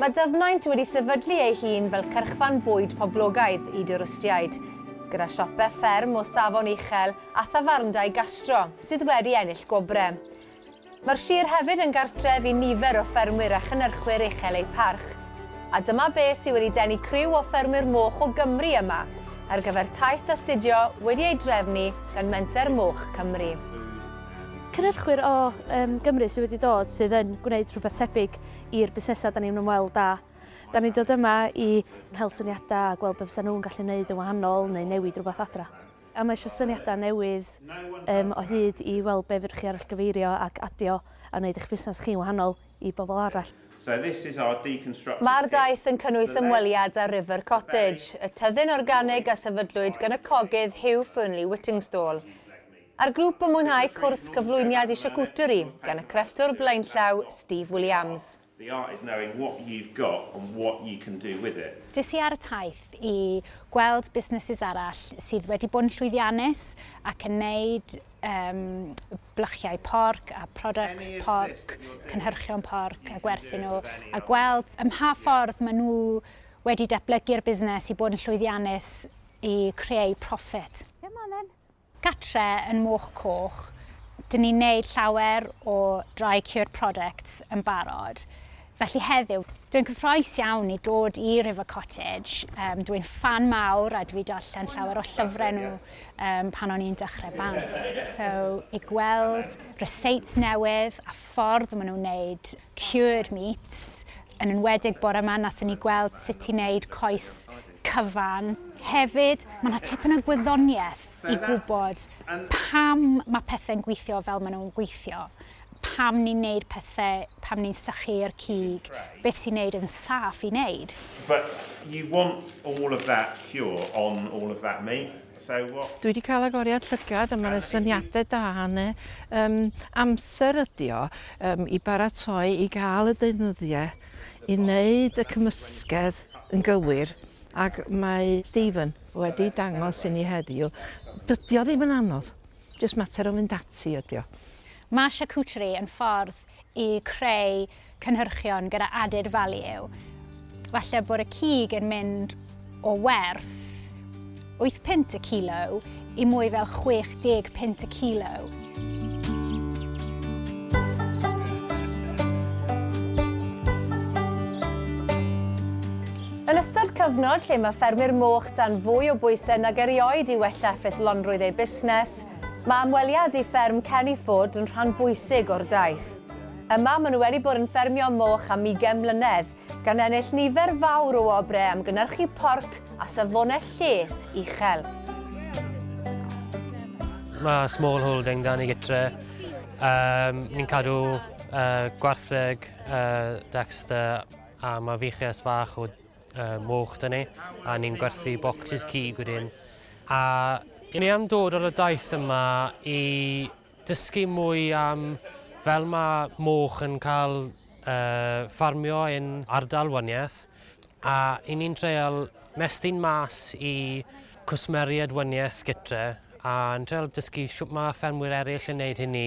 Mae Dyfnaint wedi sefydlu ei hun fel cyrchfan bwyd poblogaidd i dwristiaid, gyda siope fferm o safon uchel a thafarndai gastro sydd wedi ennill gwobrau. Mae'r sir hefyd yn gartref i nifer o ffermwyr a chynnyrchwyr uchel eu parch, A dyma be sydd wedi denu criw o ffermwyr moch o Gymru yma ar gyfer taith astudio wedi ei drefnu gan Menter Moch Cymru. Cynhyrchwyr o um, Gymru sydd wedi dod sydd yn gwneud rhywbeth tebyg i'r busnesau da ni'n ymweld â. Da ni'n dod yma i cael syniadau a gweld beth sy'n nhw'n gallu gwneud yn wahanol neu newid rhywbeth adra. A mae eisiau syniadau newydd um, o hyd i weld beth fydwch chi arall gyfeirio ac adio a wneud eich busnes chi'n wahanol i bobl arall. Mae'r daith yn cynnwys ymweliad â River Cottage, y tyddyn organig a sefydlwyd gan y cogydd Hugh Fernley Whittingstall. A'r grŵp yn mwynhau cwrs cyflwyniad i siacwteri gan y crefftwr blaenllaw Steve Williams. Des i ar y taith i gweld busnesses arall sydd wedi bod yn llwyddiannus ac yn neud um, blychiau porc a products porc, cynhyrchion porc a gwerthu nhw, a gweld ym mha ffordd maen nhw wedi datblygu'r busnes i bod yn llwyddiannus i creu profit. Come on then. Gatre yn Moch Coch, dyn ni'n neud llawer o dry cured products yn barod. Felly heddiw, dwi'n cyffroes iawn i dod i River Cottage. Um, dwi'n ffan mawr a dwi darllen llawer o llyfrau nhw um, pan o'n i'n dechrau band. So, i gweld receipts newydd a ffordd maen nhw'n wneud cured meats, yn enwedig bore yma, nathon ni gweld sut i wneud coes cyfan. Hefyd, mae yna tipyn o gwyddoniaeth i gwybod pam mae pethau'n gweithio fel maen nhw'n gweithio. pam ni'n neud pethe, pam ni'n sychu i'r cig, beth sy'n neud yn saff i neud. But you want all of that pure on all of that meat, so what? Dwi di cael agoriad llygad a ma na syniade da yn e. Yym amser ydi o yym i baratoi i gael y deunyddie i neud y cymysgedd yn gywir ac mae Stephen wedi dangos i ni heddiw dydi o ddim yn anodd jyst mater o fynd ati ydi o. Mae charcuterie yn ffordd i creu cynhyrchion gyda added value. Falle bod y cig yn mynd o werth 8 punt y kilo i mwy fel 60 punt y kilo. Yn ystod cyfnod lle mae ffermwyr moch dan fwy o bwysau nag erioed i wella ffythlonrwydd eu busnes, Mae ymweliad i fferm Kenny Ford yn rhan bwysig o'r daith. Yma, maen nhw wedi bod yn ffermio moch am ugain mlynedd, gan ennill nifer fawr o wobrau am gynyrchu porc a safonau lles uchel. Mae small holding da ni gytre. Yym, ni'n cadw yy gwartheg yy Dexter a mae fiches fach o uh, moch da ni, a ni'n gwerthu bocsys cig wedyn. A ni am dod ar y daith yma i dysgu mwy am fel mae moch yn cael uh, ffarmio yn ardal Wyniaeth, a i ni'n treol mestyn mas i cwsmeriad Wyniaeth gytre, a'n treol dysgu sut mae ffermwyr eraill yn gwneud hynny.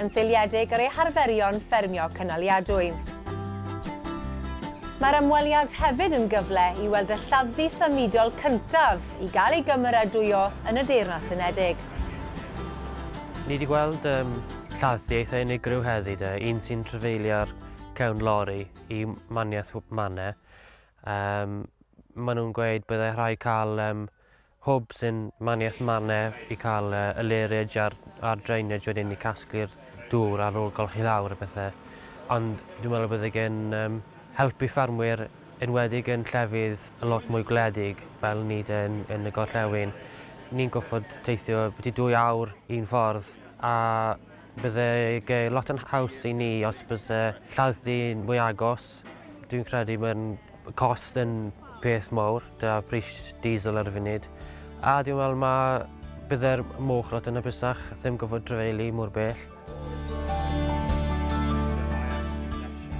yn seiliedig ar eu harferion ffermio cynaliadwy. Mae'r ymweliad hefyd yn gyfle i weld y lladddy symudol cyntaf i gael ei gymeradwyo yn y Deyrnas Unedig. Ni wedi gweld um, lladddy eitha unigryw heddi de, un sy'n trefeilio'r cewn lori i maniaeth Mane. Um, maen nhw'n gweud byddai rhai cael um, Hwb sy'n maniaeth mannau i cael y lairage a'r a'r drainage wedyn i casglu'r dŵr ar ôl golchi lawr a pethe. Ond dwi'n meddwl y bydde gen yym helpu ffermwyr enwedig yn llefydd y lot mwy gwledig fel ni de yn yn y gorllewin. Ni'n goffod teithio byti dwy awr un ffordd a Bydde ge lot yn haws i ni os byse lladd dyn mwy agos. Dwi'n credu mae'n cost yn peth mawr, da pris diesel ar y funud. A dwi'n meddwl mae bydde'r moch lot yn hapusach ddim gofod drefeili mor bell.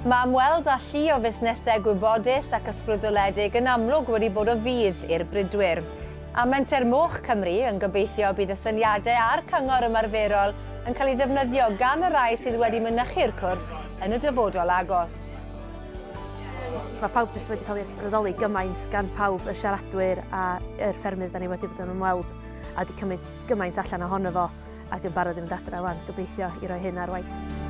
Mae ymweld â llu o fusnesau gwybodus ac ysbrydoledig yn amlwg wedi bod o fudd i'r bridwyr. A Menter Moch Cymru yn gobeithio bydd y syniadau a'r cyngor ymarferol yn cael ei ddefnyddio gan y rhai sydd wedi mynychu'r cwrs yn y dyfodol agos. Mae pawb jyst wedi cael ei ysbrydoli gymaint gan pawb, y siaradwyr a'r ffermydd dan ni wedi bod yn ymweld a wedi cymryd gymaint allan ohono fo ac yn barod i fynd adre wan, gobeithio i roi hyn ar waith.